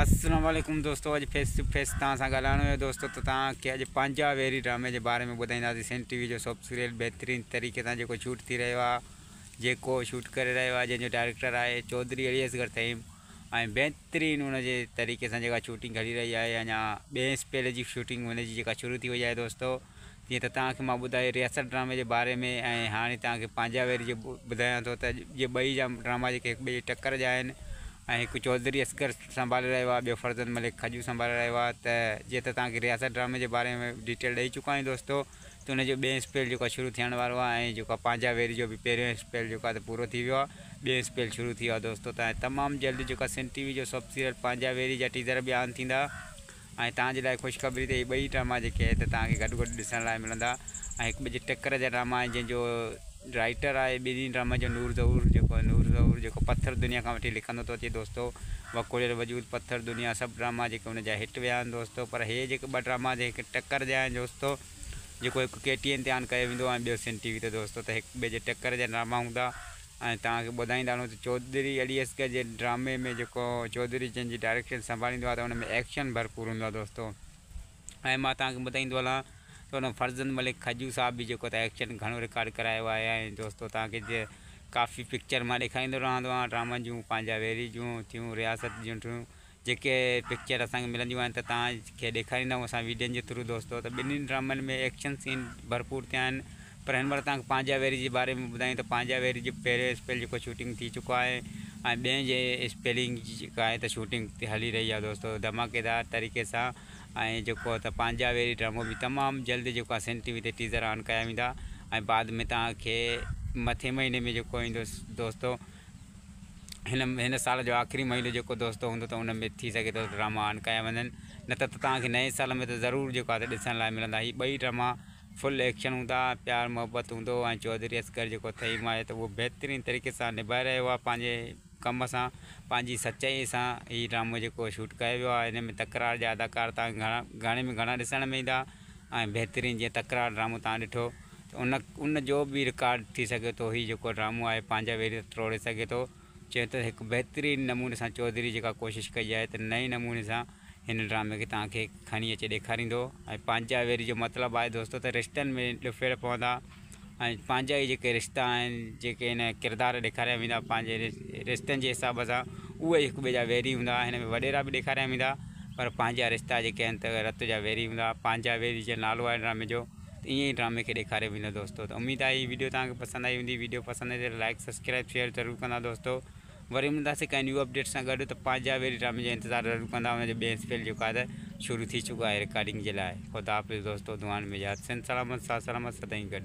السلام عليڪم دوستو اڄ فيس ٽو فيس تان سان ڳالهائڻو هيو دوستو ته تان کي اڄ پنجا ويري ڊرامي جي باري ۾ ٻڌائيندا سي سين ٽي وي جو سوپ سيريل بهترين طريقي سان جيڪو شوٽ ٿي رهيو آهي جيڪو شوٽ ڪري رهيو آهي جنهن جو ڊائريڪٽر آهي چوڌري علي اصغر تيم ۽ بهترين ان جي طريقي سان جيڪا شوٽنگ هلي رهي آهي اڃا ٻئي اسپيل جي شوٽنگ هن جي جيڪا شروع ٿي وئي آهي دوستو جيئن ته توهان کي مان ٻڌائي رهياسر ڊرامي جي باري ۾ ۽ هاڻي توهان کي پنهنجا وير جي ٻڌايان ٿو ته جي ٻئي جا ڊراما جيڪي هڪ ٻئي جي ٽڪر جا آهن ۽ هڪ چوڌري اصغر سنڀالي رهيو آهي ٻيو فرزند ملڪ کجو سنڀالي رهيو آهي ته جيئن ته توهان کي رهياسر ڊرامي جي باري ۾ ڊيٽيل ڏئي چڪو آهيان دوستو ته ان جو ٻين اسپيل جيڪو آهي شروع ٿيڻ وارو آهي ۽ جيڪو آهي پنهنجا وير جو به پهريون اسپيل جيڪو آهي ته پورو ٿي ويو آهي ٻيون اسپيل شروع ٿي ويو آهي دوستو ته تمام جلد جيڪو آهي سنڌ ٽي وي جو سب سيريل پنهنجا ويري جا ٽيزر به آن ٿيندا ۽ توهان جي لاء خوشخبري ته هي ٻئي ڊراما جيڪي آهي ته توهان کي گڏ گڏ ڏسڻ لاء ملندا ۽ هڪ ٻئي جي ٽڪر جا ڊراما آهن جنهن جو رائيٽر آهي ٻنهي ڊرامن جو نور ظهور جيڪو نور ظهور جيڪو پٿر دنيا کان وٺي لکندو ٿو اچي دوستو وڪوڙيل وجود پٿر دنيا سڀ ڊراما جيڪي ان جا هٽ ويا آهن دوستو پر هي جيڪي ٻه ڊراما جي هڪ ٽڪر جا آهن دوستو جيڪو هڪ ڪي ٽي اين تي آن ڪيو ويندو ۽ ٻيو سنڌ ٽي وي تي دوستو ته هڪ ٻئي جي ٽڪر جا ڊراما هوندا ۽ توهان کي ٻڌائيندا هلون ته چوڌري علي اصغر جي ڊرامي ۾ جيڪو چوڌري جنهن جي ڊائريڪشن سنڀاليندو آهي ته ان ۾ ايڪشن ڀرپور هوندو آهي دوستو ۽ مان توهان کي ٻڌائيندو هلان ته ان فرزند ملڪ کجو صاحب به جيڪو ته ايڪشن گهڻو رڪارڊ ڪرايو آهي ۽ دوستو توهان کي جي ڪافي پڪچر مان ڏيکاريندو رهندو آهيان ڊرامن جون پنهنجا ويري جون ٿيون رياست جون ٿيون جيڪي پڪچر اسان کي ملنديون آهن ته توهان کي ڏيکاريندا آهيون اسان ويڊين جي ٿرو دوستو ته ٻنهين ڊرامن ۾ ايڪشن سين ڀرپور ٿيا آهن پر هن مهل توهان کي پانجا ويري جي باري ۾ ٻڌايون ته پانجا ويري جي پهرين اسپيل جيڪو شوٽنگ ٿي چڪو آهي ۽ ٻئين جي اسپيلنگ جي جيڪا آهي ته شوٽنگ هلي رهي آهي دوستو ڌماڪيدار طريقي سان ۽ جيڪو ته پانجا ويري ڊرامو به تمام جلد جيڪو آهي سنڌ ٽي وي تي ٽيزر آن ڪيا ويندا ۽ بعد ۾ توهان کي مٿين مهيني ۾ جيڪو ايندو دوستو هن سال جو آخري مهينو جيڪو دوستو هوندو ته ان ۾ ٿي سگهي ٿو ته ڊراما آن ڪيا وڃن نه ته ته توهان کي نئين سال ۾ ته ضرور جيڪو آهي ڏسڻ لاء ملندا هي ٻئي ڊراما فل ايڪشن هوندا پيار محبت هوندو ۽ چوڌري اصغر جيڪو ٿهيم آهي ته اهو بهترين طريقي سان نڀائي رهيو آهي پنهنجي ڪم سان پنهنجي سچائي سان هي ڊرامو جيڪو شوٽ ڪيو ويو آهي ان ۾ تڪرار جا اداڪار توهان کي گهڻا گهڻي ۾ گهڻا ڏسڻ ۾ ايندا ۽ بهترين جيئن تڪرار ڊرامو توهان ڏٺو ته ان ان جو به رڪارڊ ٿي سگهي ٿو هي جيڪو ڊرامو آهي پنهنجا ويري ٽوڙي سگهي ٿو چيو ته هڪ بهترين نموني سان چوڌري جيڪا ڪوشش ڪئي آهي ته نئين نموني سان هن ڊرامي کي توهان کي کڻي اچي ڏيکاريندو ۽ پنهنجا ويري جو مطلب آهي دوستو ته رشتن ۾ ڏڦيڙ پوندا ۽ پنهنجا ئي جيڪي رشتا آهن جيڪي هن ڪردار ڏيکاريا ويندا پنهنجي رشتن جي حساب سان اهي ئي هڪٻئي جا ويري هوندا آهن هن ۾ وڏيرا به ڏيکاريا ويندا پر پنهنجا رشتا جيڪي آهن ته اهي رت جا ويري هوندا پنهنجا ويري جيئن نالو آهي ڊرامي جو ته ائين ئي ڊرامي کي ڏيکاريو ويندو دوستو ته اميد آهي هي وڊيو توهان کي پسند آئي هوندي وڊيو پسند آئي ته لائڪ سبسڪرائب شيئر ضرور ڪندا دوستو وري ملنداسين ڪنهن نيو اپڊيٽ سان گڏ ته پنهنجا ويري ڊرامي جو انتظار ضرور ڪندا ان جو ٻين اسپيل جيڪو آهي ته شروع ٿي چڪو آهي رڪارڊنگ جي لاء خدا حافظ دوستو دعائن ۾ ياد سنڌ سلامت ساٿ سلامت سدائين گڏ.